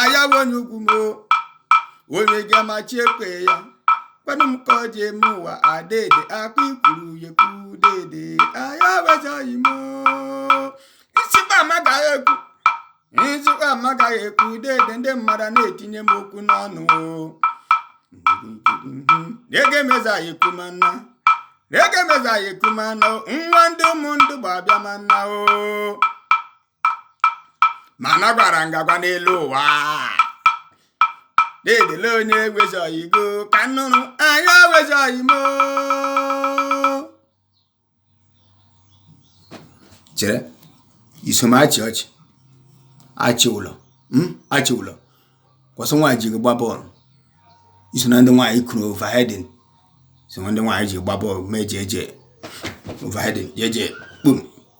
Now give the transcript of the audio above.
ayawa onye ugwu m o. onye ga-amachi ekwe ya kwanụ m ka ọ ji eme ụwa adede akpa ikwuru ya ekwu dede aya ewezi oyi m o. isikwa amagaghị ekwu dede ndị mmadụ na-etinye m okwu n'ọnụ o. ege mezaghị ekwu ma nna o. nwa ndị ụmụ ndụ bụ abịa ma nna o ma na gwara ngagwa n'elu ụwa na-edele onye ewezi oyi go ka nnụrụ anyị ewezi oyi m o chere iso m achị ọchị achị ụlọ mm, achị ụlọ kwụsị nwaanyị ji gị gba bọọlụ iso na ndị nwaanyị kụrụ overheading iso na ndị nwaanyị ji gba bọọlụ mee jeje overheading jeje kpum